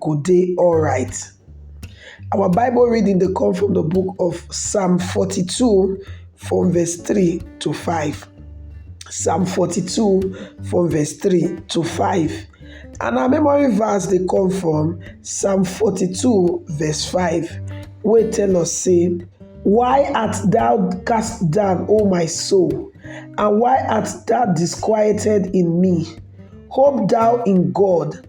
go dey alright. Our bible reading dey come from de book of psalm forty two from verse three to five, psalm forty two from verse three to five and our memory verse dey come from psalm forty two verse five wey tell us sey why art thou cast down O my soul and why art thou disquieted in me? Hope thou in God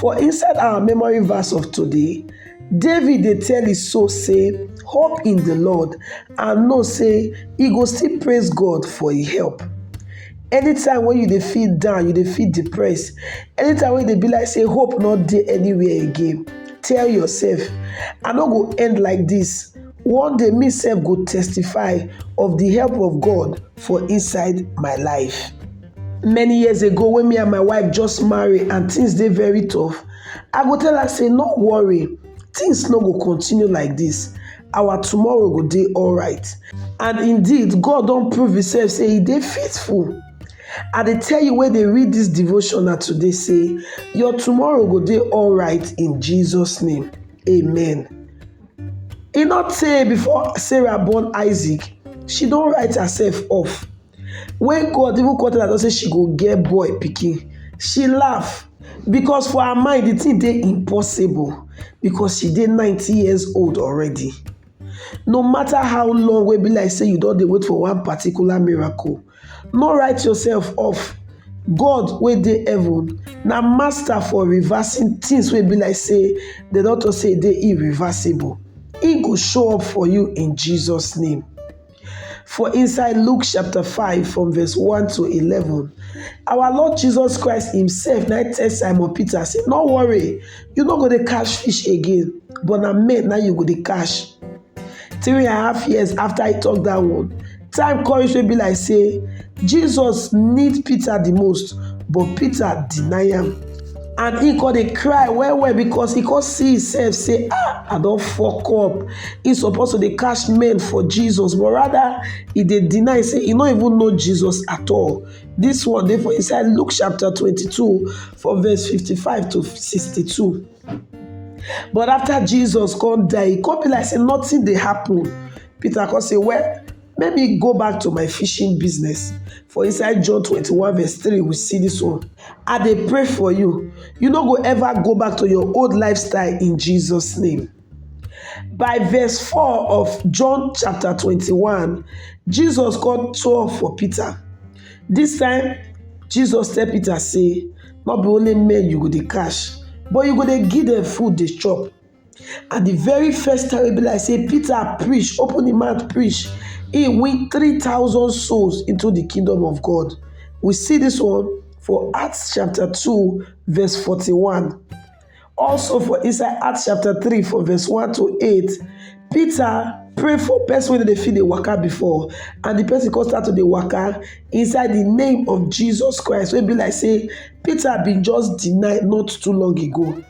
For inside our memory verse of today, David dey tell his soul say, hope in the Lord and know say he go still praise God for his help. Anytime when you dey feel down, you dey feel depressed, anytime when you dey be like say hope not dey anywhere again, tell yourself, I no go end like this. One day me self go testify of the help of God for inside my life. many years ago when me and my wife just marry and things dey very tough i go tell her say no worry things no go continue like this our tomorrow go dey alright and indeed god don prove himself say he dey faithful i dey tell you wey dey read this devotion na today say your tomorrow go dey alright in jesus name amen e not tey before sarah born isaac she don write herself off When God even come tell am say she go get boy pikin, she laugh because for her mind the thing dey impossible because she dey 90 years old already. No matter how long wey be like say you don dey wait for one particular miracle, no write yourself off. God wey dey heaven na master for reversing things wey be like say dem don talk say e dey irreversible. He go show up for you in Jesus name. For inside Luke chapter 5 from verse 1 to 11, our Lord Jesus Christ himself now tell Simon Peter, say, no worry, you no go to catch fish again, but na men now you go to catch. Three and a half years after he talk that one, time come reach be like say, Jesus need Peter the most, but Peter deny him. and he come dey cry well well because he come see himself say ah i don fuck up he suppose to dey catch men for jesus but rather he dey deny say he no even know jesus at all this one dey for inside luke chapter 22 for verse 55 to 62 but after jesus come die e come be like say nothing dey happen peter come say well Make me go back to my fishing business. For inside John 21 verse 3, we see this one. I dey pray for you. You no go ever go back to your old lifestyle in Jesus' name. By verse 4 of John chapter 21, Jesus called 12 for Peter. This time, Jesus tell Peter say, not be only men you go dey cash, but you go dey give them food dey chop. And the very first time wey be like say Peter preach, open him mouth preach, he win 3,000 souls into the kingdom of God. We see this one for Acts chapter 2, verse 41. Also for inside Acts chapter 3, from verse 1 to 8, Peter pray for person wey dey feel the waka before and the person come start to the waka inside the name of jesus christ wey be like say peter been just deny not too long ago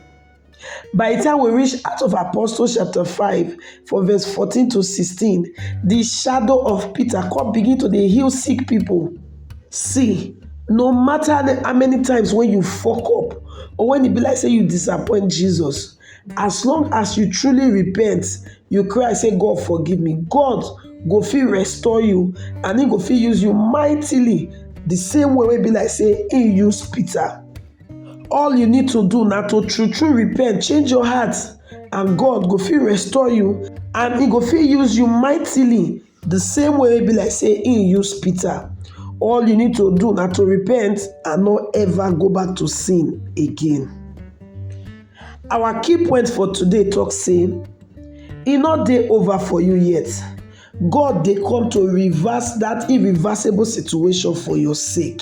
By the time we reach Acts of Apostles chapter 5 from verse 14 to 16, the shadow of Peter come begin to dey heal sick people. See, no matter how many times when you fuck up or when e be like say you disappoint Jesus, as long as you truly repent, you cry say God forgive me, God go fit restore you and he go fit use you mightily the same way wey be like say he use Peter. All you need to do na to true true repent, change your heart and God go fit restore you and he go fit use you mightily the same way e be like say he use Peter. All you need to do na to repent and no ever go back to sin again. Our key point for today talk say e no dey over for you yet. God dey come to reverse that irreversible situation for your sake.